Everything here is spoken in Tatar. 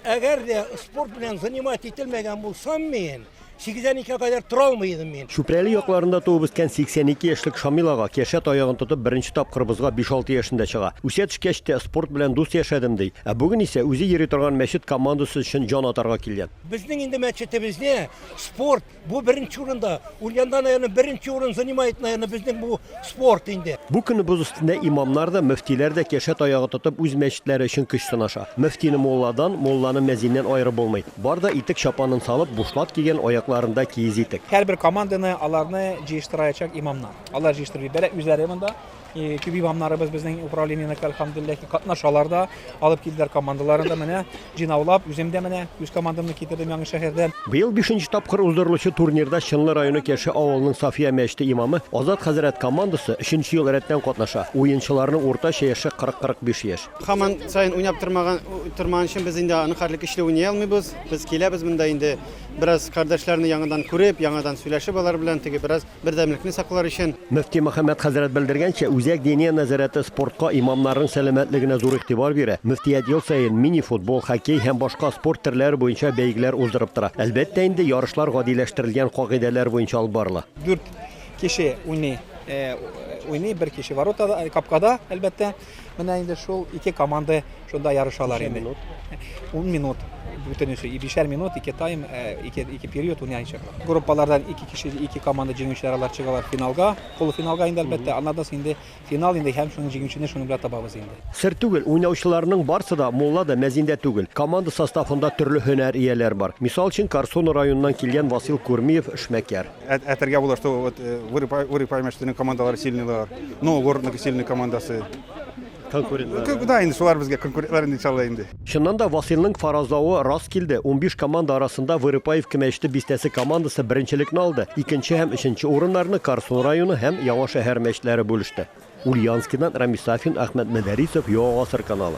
Әгәр дә спорт белән занимать ителмәгән булсам мин, 82 кадәр тора алмый идем мин. Чүпрәле якларында туып үскән 82 яшьлек Шамил ага кершә таягын тотып беренче тапкыр бозга 5-6 яшендә чыга. Үсә төшкәч тә спорт белән дус яшәдем, ди. Ә бүген исә үзе йөри торган мәчет командасы өчен җан атарга килгән. Безнең инде мәчетебездә спорт Бу беренче урында, Ульянда, наверное, беренче урын занимает, наверное, безнең бу спорт инде. Бу көне боз өстендә имамнар да, мөфтиләр дә кәшә таягы тотып үз мәчетләре өчен көч сынаша. Мөфтине мулладан, мулланы мәзиннән аерып булмый. Бар да итек чапанын салып, бушлат кигән, аякларында киез итек. Һәрбер команданы, аларны җыештыраячак имамнар. Алар җыештырып җибәрә, үзләре монда. Э, Киви бамнарыбыз безнең управлениене әлхәмдүлилләһ катнашалар да, алып килделәр командаларын да менә җыйнаулап, үзем дә менә үз командамны китердем яңа шәһәрдән. Быел бишенче тапкыр уздырылучы турнирда Чынлы районы Кеше авылының Сафия мәчете имамы Азат хәзрәт командасы өченче ел рәттән катнаша. Уенчыларның уртача яше 40-45 яшь. Хаман сайын уйнап тормаган тормаган өчен без инде аны хәрле көчле уйный алмыйбыз. Без киләбез монда инде бераз кардәшләрне яңадан күреп, яңадан сөйләшеп алар белән теге бераз Бердәмлекне саклар өчен. Мөфти Мөхәммәт хәзрәт белдергәнчә, Үзәк диния нәзарәте спортка, имамнарның сәламәтлегенә зур игътибар бирә. Мөфтият ел саен мини-футбол, хоккей һәм башка спорт төрләре буенча бәйгеләр уздырып тора. Әлбәттә инде, ярышлар гадиләштерелгән кагыйдәләр буенча алып барыла. Дүрт кеше уйный, уйный, бер кеше воротада, капкада, әлбәттә. Менә инде шул ике команда шунда ярышалар инде. Ун минут бүтенесе, бишәр минут, ике тайм, э, ике, ике период уйнайчак. Группалардан ике кеше, ике команда җиңүчеләр алар чыгалар финалга, полуфиналга инде әлбәттә, аннан соң инде финал инде һәм шуның җиңүчене шуның белән табабыз инде. Сер түгел, уйнаучыларның барсы да мулла да, мәзин дә түгел. Команда составында төрле һөнәр ияләр бар. Мисал өчен, Корсун районыннан килгән Васил Курмиев, эшмәкәр. Әйтергә була, что вот э, Вырыпайма штының командалары сильныйлар, но городның сильный командасы. Конкурентлар. Да, инде шулар безгә конкурентлар инде иншалла инде. Чыннан да Василның фаразлавы рас килде. 15 команда арасында Вырыпаевка мәчете бистәсе командасы беренчелекне алды. Икенче һәм өченче урыннарны Карсун районы һәм Яңа шәһәр мәчетләре бүлеште. Ульянскидан Рамис Сафин, Ахмәт Мәдәрисов, Яңа гасыр каналы.